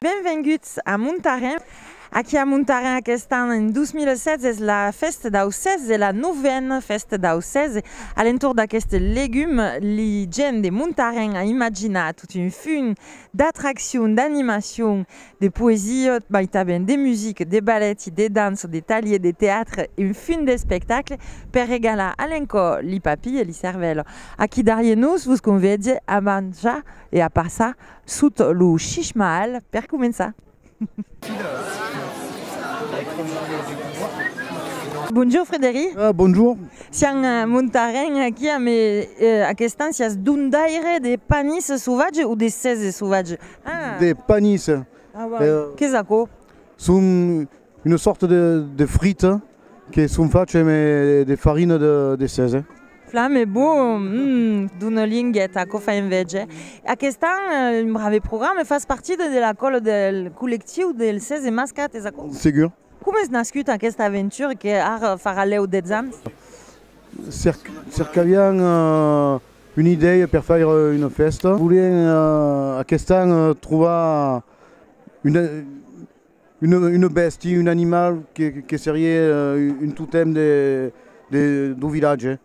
Benvenguts a Montarin. Aquí a Montarin aquest an, en 2016, es la fèsta dau sèse, la novena fèsta dau sèse. A l'entorn d'aqueste legum, li gents de Montarin a imaginat tot un funh d'atraccions, d'animacions, de poesia, mai tanben de musica, de baleti, de dança, de talhier, de teatre, un fin d'espectacle per regalar a l'encò li papi e li cervèl. Aquí darrier nos vos convèdie a manjar e a passar sot lo shishmaal per començar. Bonjour Frédéric. Bonjour. Siam montarens aquí amb aquests ans sias dondaire de panis sauvatge o de sèse sauvatge? de panis. Qu'es aquò? Son una sòrta de frita que son fach eme de farina de sese. Flam e bon! D'una lingueta, aquò fa enveja. Aquest an, un brave programa, fas partida de la còla del collectiu del sese mascat, es aquò? Segur. Com es nascut aquesta aventura que ara farà lèu 10 ans? Cercavián una idèia per faire una fèsta. Volián aquest an trobar una bèstia, un animal que seriá un totèm dau vilatge.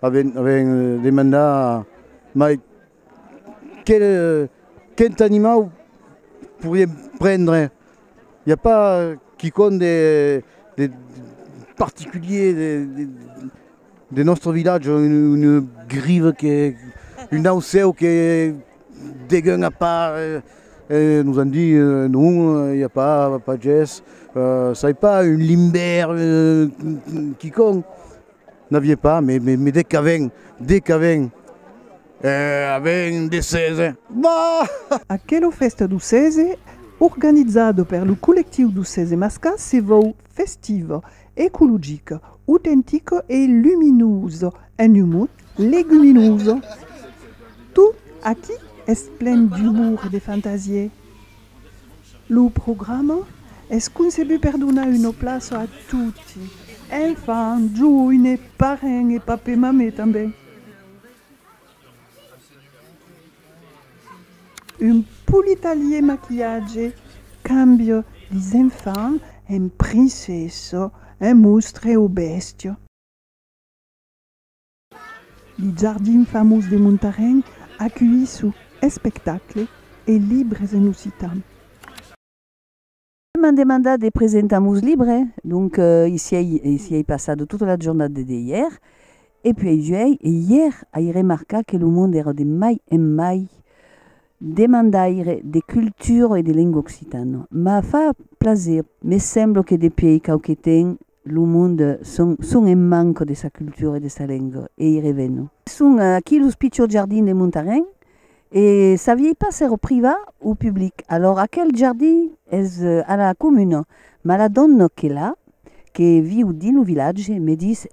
Avián demandat mai Quel, quint animau pouriem prendre? I a pas quicòm de, de particulier de, de, de nòstre vilatge, un, une grive que, un ausèu que degun a part? E nos an dit, non, i a pas, pas ges, sai pas, un limbèr, quicòm. N'avié pas, me, me, me dec aven, dec aven, eh, aven de sese. Bah! Aquela fèsta do sese, organizada per lo collectiu do sese mascà, se vòu festiva, ecologica, autentica e luminosa, en un mot, leguminosa. Tot aquí es plen d'umor e de fantasié. Lo programa es concebut per donar una plaça a toti, enfants, joines, parents e papè-mamè tanben. Un politalier maquillatge cambia les enfants en princessa, en mostre o bèstia. Li jardin famós de Montarén aculhissu espectacle e libres en occitan. M'an demandat de presentar mos libre, donc i siei passado tota la jornada de dehièr, e puèi juèi e ièr ai remarcat que lo monde èra de mai en mai demandaire de cultura e de lenga occitana. M'a fach plaser, me sembla que depièi quauque temps Lo monde son, son en manco de sa cultura e de sa lenga, e i reveno. Son aquí los pichors jardins de Montarén, e saviei pas s'èra privat o public. Alòr, aquel jardin es a la comuna, mas la dòna que l'a, que viu dins lo vilatge, me dis,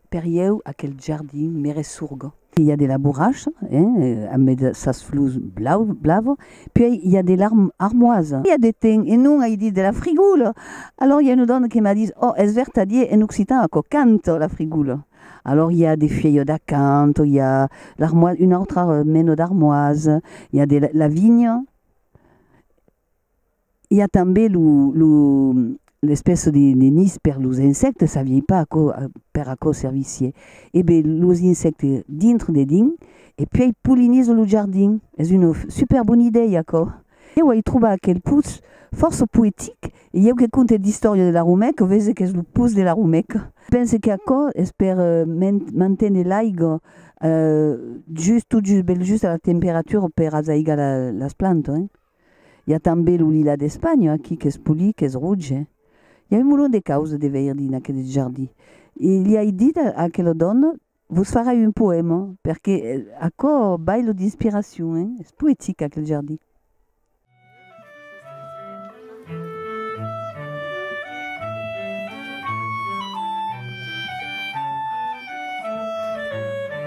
per ieu aquel jardin me ressurga. I a de la borracha, hein, en mai de sas flors blava, puèi i a de l'armoisa. I a de ten, e non ai dit de la frigoula. Alòr i a una dòna que m'a dit, oh, es vertadier, en occitan aquò canta la frigoula. Alòr i a de fièlhos d'acantho, i a l'armoisa, una autra mena d'armoisa, i a de la vinha. I a tanben lo, lo, l'espèça de, de nis per los insèctes, saviei pas aquò, per aquò servissie. E be, los insèctes dintre de dins, e puèi polinizo lo jardin. Es una super bona idèia aquò. Ieu ai trobat aquel pus fòrça poetic, e ieu que conte d'istòria de la Romèca, vese qu'es lo pus de la Romèca. Pense qu'aquò es per manténer l'aiga just, tot just, bèl just a la temperatura per azaigar las plantas, hein. I a tanben lo lilà d'Espanha, aquí, qu'es polit, qu'es roge. I a un molon de causes de veir dins aqueles jardins. E li ai dit a aquela dòna, Vos farai un poèma, perque aquò bai lo d'inspiracion, hein? Es poetic, aquel jardin.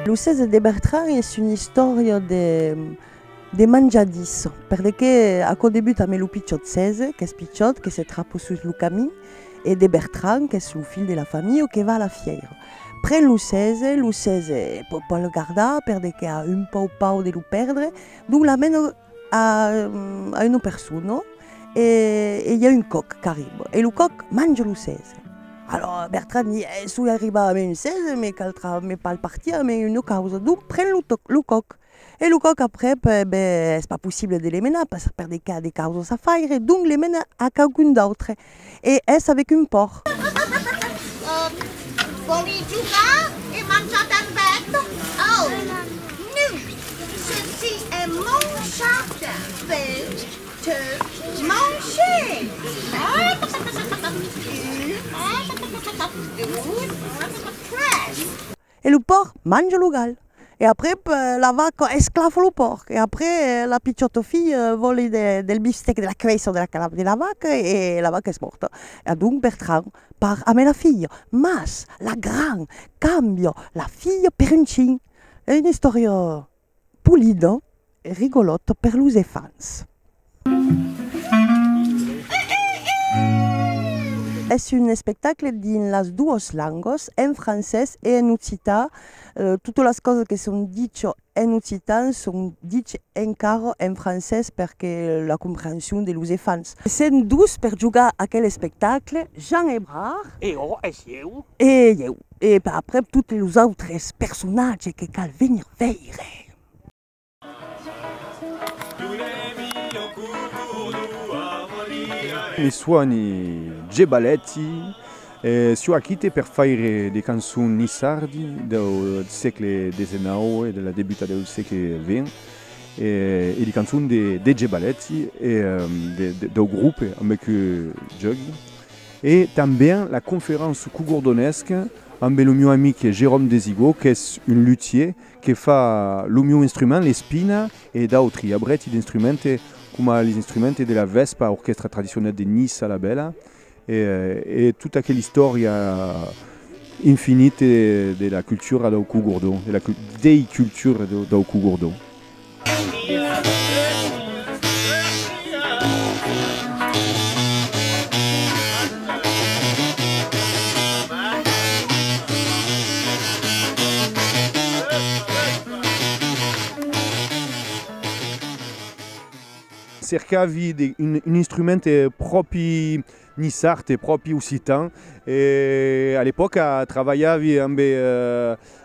Lo 16 de Bertrari es una istòria de De manjadís, per de qué aquò debuta ame lo pichòt Cèse, qu'es pichòt, que se trapo sus lo camin, e de Bertran, qu'es lo filh de la familh o que va a la fièira. Pren lo Cèse, lo Cèse pòt pas lo gardar per de qué a un pauc paur de lo pèrdre, donc l'amena a a una persona e e i a un còc qu'arriba e lo còc manja lo Cèse. Alòra Bertran di, eh, soi arribat ame un Cèse, me caldrà me palpartir ame una causa, donc pren lo tòc lo còc E lo còc aprèp, e ben, es pas possible de le menar pas per de cas de causas a faire, donc le mena a quauqu'un d'autre e es avec un pòrc. Vòli jogar e manjar d'embèth? Au! Nu! Ceci es mon jardin, vens te manger! Un, deux, tres. E lo pòrc manja lo gal. E après la vaca esclafa lo pòrc. E après la piciota filha vòli del bistec de la cavèssa de la calav de la vaca e la vaca es mòrta. E adonc Bertrand part ambe la filha. Mas la gran cambia la filha per un chin. E una istòria Pulido e rigolòt per los efants. Es un espectacle dins las duos langos, en francés e en occitan. Totas las causas que son dicho en occitan son dicho encara en francés perque la comprehension de los efants. Sèm dus per jogar aquel espectacle, Jean Ebrard. E jo, e sieu? E ieu. E aprèp totes los autres personatges que cal venir veire. Me suòni Gebaletti e soi aquite per faire de cançon nissardi deu sègle desenaue e de la debuta deu sègle vent e de cançon de Gebaletti e deu grope ambe que jògui. E tanben la conference qu'o gordonesc ambe lo mieu amic Jérôme Desigaud qu'es un luthier que fa lo mieu instrument, l'espina, e d'autri abreti d'instrumente coma les instrumente de la Vespa, orquèstra tradicionèl de Niça la Bèla, e tota aquela istòria infinite de la cultura dau Cogordon, de la dei cultures dau Cogordon. Cercavi un instrument pròpi Nissart e pròpi occitan e a l'epòca travalhavi ambe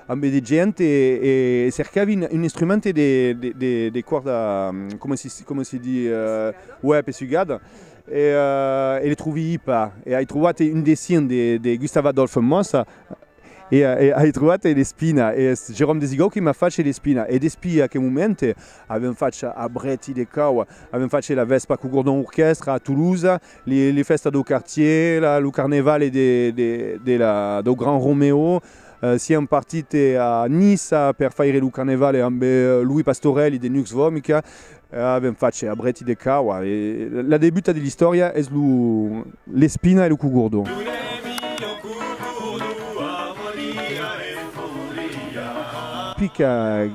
ambe de gent e e cercavi un instrument de de de còrda coma si coma si di uèi pessugada e e le trovii pas e ai trovat un dessin de de Gustav Adolphe Mossa E ai trobat l'espina, e es Jérôme Desigau qui m'a fache l'espina. E despí aquel moment avèm fache a Brèti de Cau, avèm fache la vèspa col Gordon Orquestra a Toulouse, les fèstas dau quartier, lo carnevale dau Grand Roméo, sièm partite a Niça per faire lo carnevale ambe Louis Pastorelli de Nux Vomica, A ben fach a brèti de caua. La debuta de l'istòria es lo l'espina e lo cugordo. Pica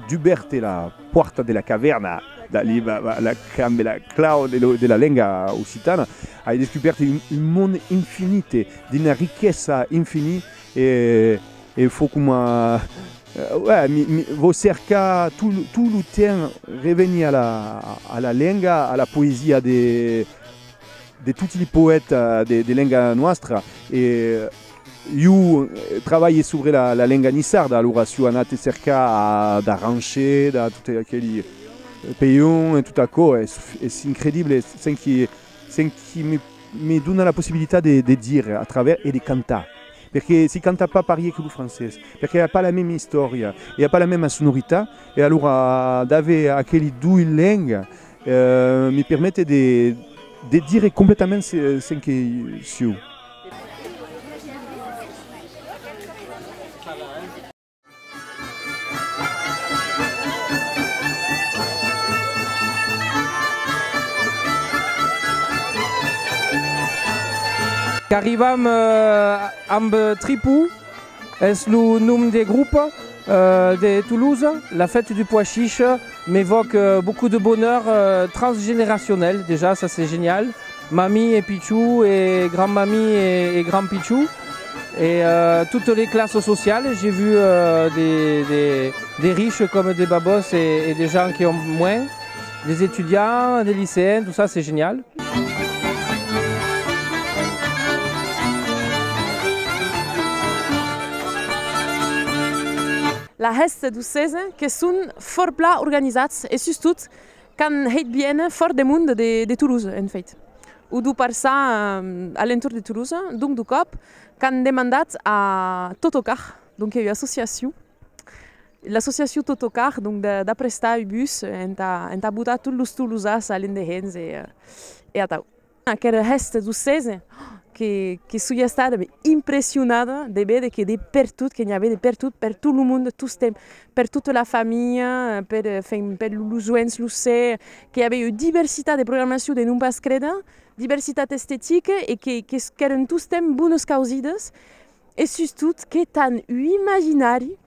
dubèrt la pòrta de la cavèrna d'Ali Baba damb la clau de la lenga occitana ai descubèrt un monde infinit d'una riquesa infinit E e fo coma uè mi mi vò cercar tot tot lo temps revenir a la a la lenga a la poesia de de tots li poèta de de lenga noastra e iu trabalhe sobre la la lenga nissarda alora s'iu anat cercar a d'arranche da tot aqueli peion e tot aquò es es incredible sent que Sen qui me dona la possibilitat de dire a travèrs e de cantar. Perque si canta pas parier que lo francés, perque a pas la mema istòria e a pas la mema sonoritat, e alora d'aver aqueli dois lengas me permete de dire completament sen que siu. Qu'arrivam amb Tripou, es lo nom de grop de Toulouse, la fête du pois chiche m'evoque beaucoup de bonheur transgeneracionel, dejà ça c'est genial, Mami e pichou e grand mami e grand pichou e totes les classes sociales j'ai vu des riches comme des babos et des gens qui ont moins des étudiants des lycéens tout ça c'est génial. La rèsta d'Ocesa que son fòrt plan organizats e sustot Qu'an hèit bien fòrt de monde de Toulouse, en fait, o d'o parçar a l'entorn de Toulouse, donc d'o còp qu'an demandat a Totocar, donc que ua associacion, l'associacion Totocar, donc d'aprestar ua bus entà botar tots los tolosas a l'endehenh e atau. Aquel gèste d'ocese que soi estada impressionada de véder que de pertot, que n'i avè de pertot, per tot lo monde, tostemp, per tota la familha, per los joens, los cèrs, que i avè ua diversitat de programacion de non pas créder, diversitat estetica e qu'èran tostemp bonas causidas e sustot qu'etan un imaginari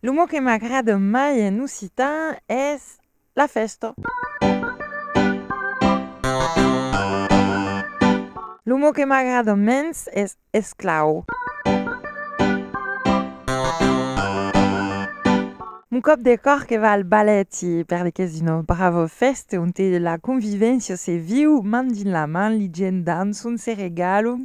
Lo mot que m'agrada mai en occitan es la fèsta. Lo mot que m'agrada mens es esclau. Mon còp de còr que va al balèt e per li qu'es una brava fèsta onte la convivéncia se viu man dins la man, li gents dançon, se regalan,